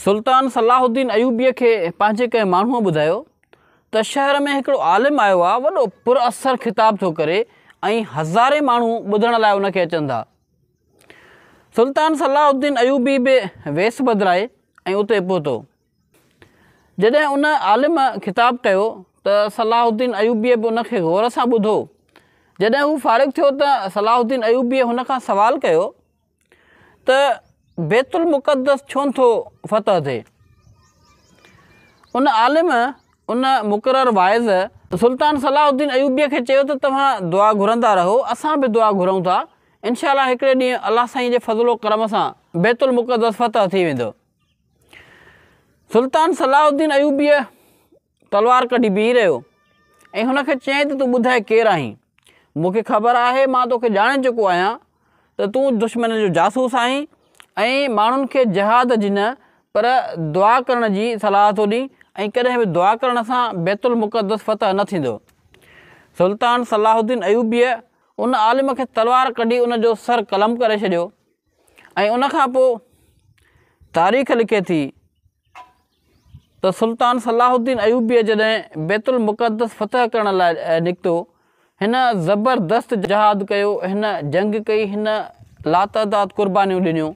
سلطان Salahuddin ايوبيء کي پنهنجي ڪنهن ماڻهوء ٻڌايو ته شهر ۾ هڪڙو عالم آيو آهي، وڏو پراثر خطاب ٿو ڪري ۽ هزارين ماڻهو ٻڌڻ لاء ان کي اچن ٿا. سلطان صلاح الدين ايوبي به ويس بدلائي ۽ اتي پهتو. جڏهن ان عالم خطاب ڪيو ته صلاح الدين ايوبيء به ان کي غور سان ٻڌو. جڏهن هو فارغ ٿيو ته صلاح الدين ايوبيء هن کان سوال ڪيو ته بيت المقدس ڇونه ٿو فتح ٿئي؟ ان عالم، ان مقرر واعظ، سلطان صلاح الدين ايوبيء کي چيو ته توهان دعا گهرندا رهو، اسان به دعا گهرون ٿا، انشاء الله هڪڙي ڏينهن الله سائين جي فضل و ڪرم سان بيت المقدس فتح ٿي ويندو. سلطان صلاح الدين ايوبيء تلوار ڪڍي بيهي رهيو ۽ هن کي چيائين ته تون ٻڌاء ڪير آهين؟ مون کي خبر آهي مان توکي ڄاڻي چڪو آهيان ته تون دشمن جو جاسوس آهين ۽ ماڻهن کي جهاد جي نه پر دعا ڪرڻ جي صلاح ٿو ڏين ۽ ڪڏهن به دعا ڪرڻ سان بيت المقدس فتح نه ٿيندو. سلطان صلاح الدين ايوبيء ان عالم کي تلوار ڪڍي ان جو سر قلم ڪري ڇڏيو ۽ ان کان پوء تاريخ لکي ٿي، ته سلطان صلاح الدين ايوبيء جڏهن بيت المقدس فتح ڪرڻ لاء نڪتو، هن زبردست جهاد ڪيو، هن جنگ ڪئي، هن لاتعداد قربانيون ڏنيون،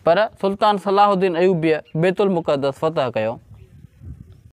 پر سلطان صلاح الدين ايوبيء بيت المقدس فتح ڪيو.